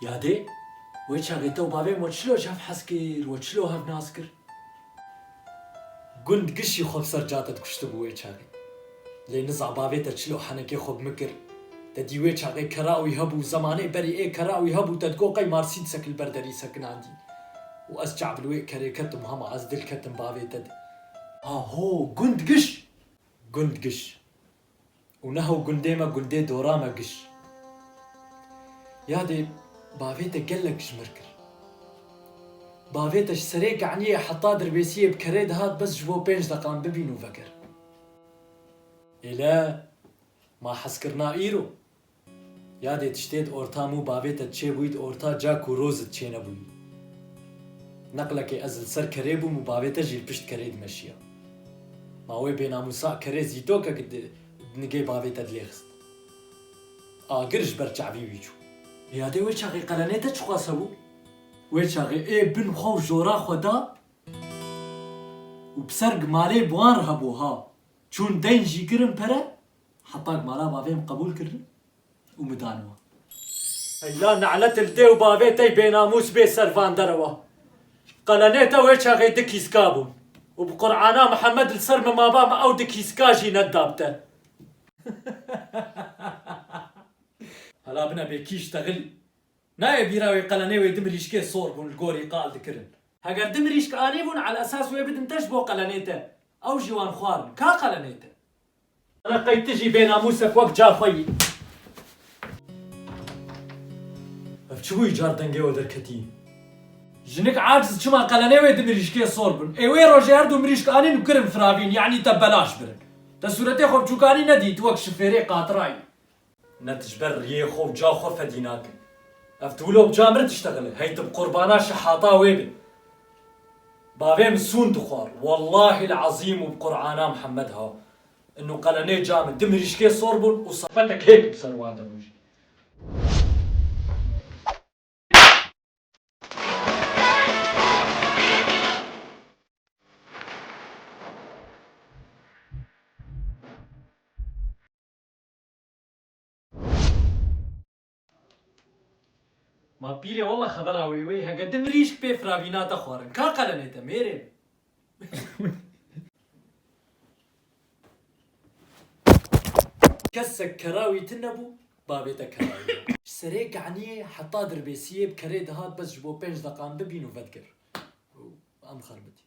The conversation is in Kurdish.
Yadê, wê çavê te û bavê min we çilo çavhezkir, we çilo hevnazkir? Gund kişî xwe bi ser ca te dikuştibû wê çaxê. Lê niza bavê te çil û henekê xwe bi min kir. Te dî wê çaxê kera wî hebû, zemanê berî ê kera wî hebû te digot qey marsîdsek li ber derî sekinandî. Û ez çax bi li wê kerê ketim hema ez dil ketim bavê te di. Aho! Gund kişî! Gund kişî! Û neho gundê me gundê dora me giş. Yadê bavê te gelek jmir kir. Bavê te ji serê Keniyê heta Dirbêsiyê bi kerê dihat bes ji bo pênc deqan bibîn û vekir. Êle, ma hezkirina îro. Yadê tiştê di orta mû bavê te çêbûyî di orta ca ku roz di çênebûyî. Neqlekê ez li ser kerê bûm û bavê te jî li pişt kerê dimeşiya. Ma wê bênamûsa kerê zîtokek di nigê bavê te dilêxist. Agir ji ber çavî wî çû. Yadê wê çaxê qelenê te çixwaz hebû? Wê çaxê ê bin xwe û jora xwe da û bi ser gimarê bi wan re hebû ha. Çûn deyn jî kirin pere Heta ku mala bavê min qebûl kirin û min dan wan. Eyya ne'let li dê û bavê te bênamûs bê ser van derewa. Qelenê te wê çaxê di kîska bûn û bi Qur'ana Mihemed li ser min maba min ew di kîska jî nedidab te. Hela bine bê kîş texilî. Nayê bîra wê qelenê wê di mirîşkê sor bûn li gorî qal dikirin. Heger di mirîşk anîbûn ala esas wê bidin te ji bo qelenê te ew jî wan xwarin. Ka qelenê te? Reqey ti jî bênamûsek wek ca xwe yî. Ev çi bûyî car dengê we derketî. Jinik aciz çima qelenê wê di mirîşkê sor bûn. Ê wê rojê her du mirîşk anîn û kirin firavîn yanî te belaş birin. Te sûretê xwe bi çûkanî nedîyî tu wek şifêrê qatira yî. Ne tu ji ber riyê xwe û ca xwe fedî nake. Ev tiwilo bi ca mir diştexile, hey tu bi qurbana şehata wê be. Bavê min sûn dixwar, wellahîl ezîm û bi qurana Mihemed ha, in û qelenê ca min di mirîşkê sor bûn û sefetek hêk bi ser wan de rojî. Ma pîrê walla xebera wê wê heke di mirîşk pê firavîna te xwarin. Ka qelemê te mêrê. Kesek kera wî ti nebû, bavê te kera wî ye. Ji serê Keniyê heta Dirbêsiyê bi kerê dihat bes ji bo pênc deqan bibîn û vedigir. Em xerbitîn.